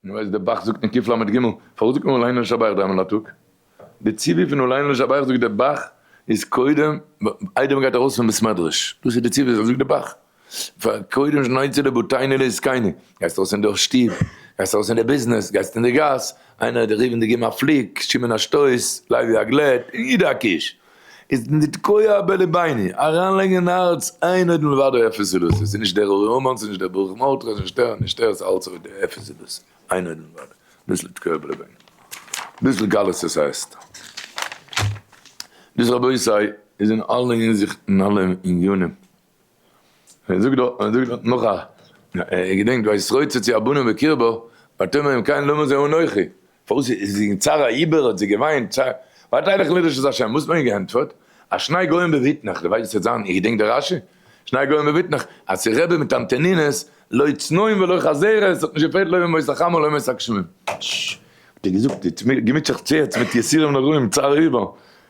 און ווער איז דער בח זאגט אין ק ל ג, פארוואס זאגט מען אולי נא לשבח דריימאל אין א טאג? די ציווי פון אולי נא לשבח זאגט דער בח איז קודם איידער מען גייט ארויס פון בית מדרש, דאס איז די ציווי אזוי זאגט די בח, קודם שני צדי בוטינו לעסקינו, גייסט ארויס אין די שטוב, גייסט ארויס אין די ביזנעס, גייסט אין די גאס, איינער האט דיך ריב און די גיב אים א פליק, שמעון א שטויס, לייבי א גלעט, און אידא א קיש. איז נתקוה בלביני, אריינלייגן אין הארץ איין אויד מלבדו אפס זילות, עס איז נישט דער אורי המן, עס איז נישט דער ברוך מרדכי, עס איז נישט ער, נישט ער, עס איז אלץ אויד אפס זילות, איין אויד מלבדו, דאס איז נתקוה בלביני, דאס איז גלות עס הייסט, דאס רבותי איז אין אלע הינזיכטן, אין אלע ענינים. און ער זאגט דארט, און ער זאגט דארט נאך א, איך געדענק וישרוצו צו הבנים בקרבו, ותאמר אם כן למה זה אנכי, פארוואס איז זי אין צרה איבער האט זי געוויינט, ווארט איי דאך לרשות השם, וואס האט מען איר געענטפערט, אז שניי גוים בבטנך, די ווייסט וואס ס'וועט זיין, איך געדענק די רשי, שניי גוים בבטנך, אז ס'רעבע מיט אנטענינעס, לא צנועים ולא חזירות, ס'האט נישט געפעלט לא ימות החמה ולא ימות הגשמים. האט ער געזאגט, געמיטשעט זיך צו יעצט מיט יסורים נוראים, צער איבער.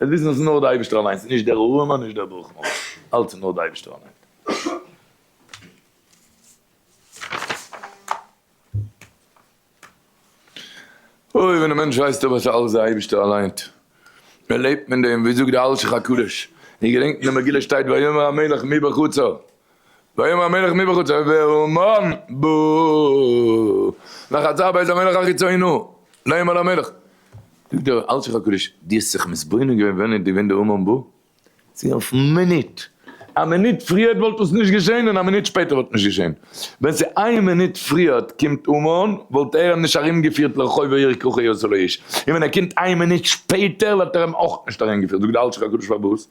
עס וויסן אז עס איז נאר דער אייבערשטער אליין, עס איז נישט דער ארעמאן נישט דער ברוכמאן, אלץ איז נאר דער אייבערשטער אליין. אוי ווען א מענטש ווייסט אויף אז עס איז אלץ דער אייבערשטער אליין, ער לעבט מיט דעם, ווי זאגט דער אלשיך הקדוש, איך געדענק אין דער מגילה שטייט ויאמר המלך מי בחצר, ויאמר המלך מי בחוצה והמון בו וחצר בית המלך החיצונו לא ימלא המלך זאגט דער אלשיך הקדוש די האסט זיך מתבונן געווען ווען איז געווען די המון בו? צו אויפן מינוט א מינוט פריערט וואלט עס נישט געשעהן און א מינוט שפעטער וואלט נישט געשעהן ווען ס'איז איין מינוט פריערט קומט המון וואלט ער אים נישט ארום געפירט לרחוב העיר ככי עשה לו איש און ווען ער קומט איין מינוט שפעטער וואלט ער אים אויך נישט ארום געפירט זאגט די אלשיך הקדוש פארוואס?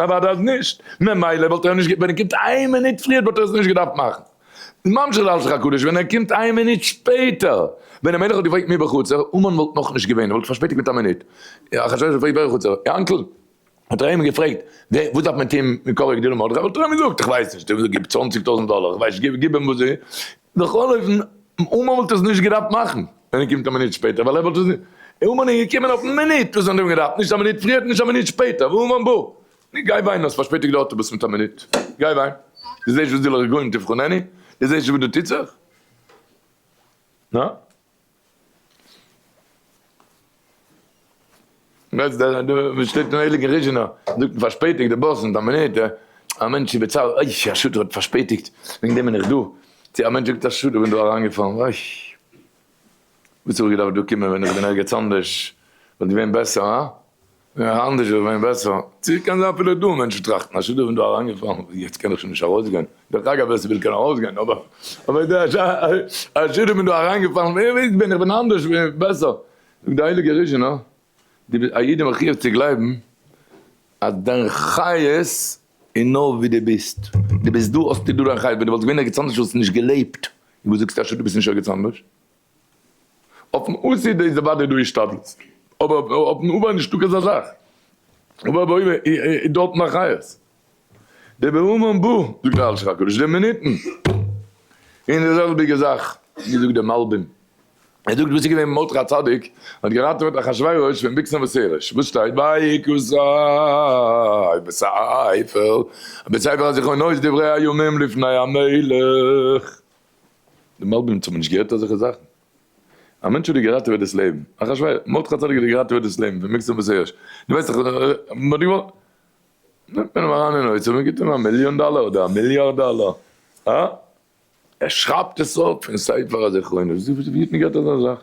אוודאי אז נישט, ממילא וואלט ער נישט געב ווען ער קומט איין מינוט פריער וואלט ער עס נישט געדארפט מאכן, ממשיך זאלץ לך הקדוש ווען ער קומט איין מינוט שפעטער, ווען דער מלך האט געפרעגט מי בחצר, המן וואלט נאך נישט געווען, ער וואלט פארשפעטיגט מיט א מינוט, אחשורוש האט געפרעגט ווער בחצר, יענקל, האט ער אים געפרעגט ווער וואס דארף מען טוהן מקרא כדי למרדכי, וואלט ער אים געזאגט איך ווייס נישט, גיב צוואנציג טויזענט דאלער, איך ווייס נישט, גיב אים וואס די. בכל אופן, אומאן וואלט עס נישט געדארפט מאכן ווען ער קומט א מינוט שפעטער, ווייל ער וואלט עס נישט, אומאן איז געקומען אויפן מינוט וואס זיי האבן געדארפט, נישט א מינוט פריער, נישט א מינוט שפעטער, ואומאן בא. נו גיי וויין, האסט פארשפעטיגט די אוטובוס מיט א מינוט, גיי וויין, דו זעסט וואס דו לך גוים תבחנני, דו זעסט נישט וואס דא טוט זיך? יעצט דער דער וואס שטייט אין הייליגן ריזשינא זאגט מען פארשפעטיגט די באס מיט א מינוט, א מענטש איז בצער אוי א שוטה האט פארשפעטיגט וועגן דעם בין איך דא, צו א מענטש זאגט א שוטה כ'בין דא אריינגעפאלן אוי וואס האב איך געדארפט דא קומען ווען איך בין ערגעץ אנדערש וואלט געווען בעסער הא? ווען אנדערש וואלט געווען בעסער. צו קען זיין אפילו דא מענטשן טראכטן אז שדא און דא אריינגעפאלן וואס יעצט קען איך שוין נישט ארויסגיין, דרך אגב ווער ס'וויל קען ארויסגיין, אבער אבער דא אז שדא און דא אריינגעפאלן ווער ווייסט בין איך בין אנדערש בין בעסער, זאגט די הייליגע ריש ן דו ביסט א יעדער מחויב צו גלייבן אז דיין חיות איז נאר ווי דו ביסט, דו ביסט דא האסטו דא דיין חיות, ווען דו וואלסט געווען ערגעץ אנדערש וואלסטו נישט געלעבט, און וואס זאגסטו אז שדא ביסט נישט ערגעץ אנדערש? אויפן אויסזעהט איז אוודאי דא השתדלות, אבער אויפן אויבער נישט דא כזא זאך, אויבער באויבער איז דארט נאר חיות, די בהמון בא, זאגט דער אשת הקודש, די מינוטן, און די זעלביגע זאך ווי זאגט דער מלבים, ער זאגט וואס איז געווען מרדכי הצדיק האט געראטעוועט אחשורוש פון ביקסן וסערש, וואס שטייט ויהי כוזרי בספר, בספר הזכרונות דברי הימים לפני המלך. די מלבים'ס האבן נישט געהערט אזעלכע זאכן. א מענטש האט דיר געראטעוועט דאס לעבן. אחשורוש, מרדכי הצדיק האט דיר געראטעוועט דאס לעבן פון מיקסען בשערות. דו ווייסט דאך מ'האט דיר געוואלט. נעמט מען אים אריין אין אוצר, מען גיבט אים א מיליאן דאלער אדער א מיליארד דאלער. אה? ער שרייבט עס אויף אין ספר הזכרונות. ווי האט מען געהערט אזא זאך?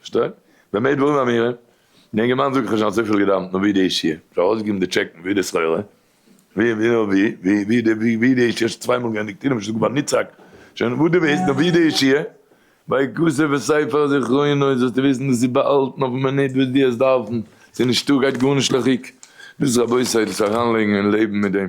פארשטיי? במה דברים אמורים? די אינגערמאן זאגט איך האב שוין אזויפיל געדאווענט נאר ווי די אישי איך האב ארויסגעגעבן די טשעקן ווי די סחורה ווי ווי נאר ווי ווי ווי די ווי ווי די אישי איך האב שוין צוויי מאל געענדיגט אינעם שטאט באניצעק שוין וואס די ווילסט נאר ווי די אישי ביי כסף וספר זכרונות זאלסטו וויסן דאס איז באהאלטן אויפן מינוט וואס די האסט דארפן ס'איז נישטא גייט גארנישט לאכיג דאס רבותי דאס אריינלייגן אין לעבן מיט דעם.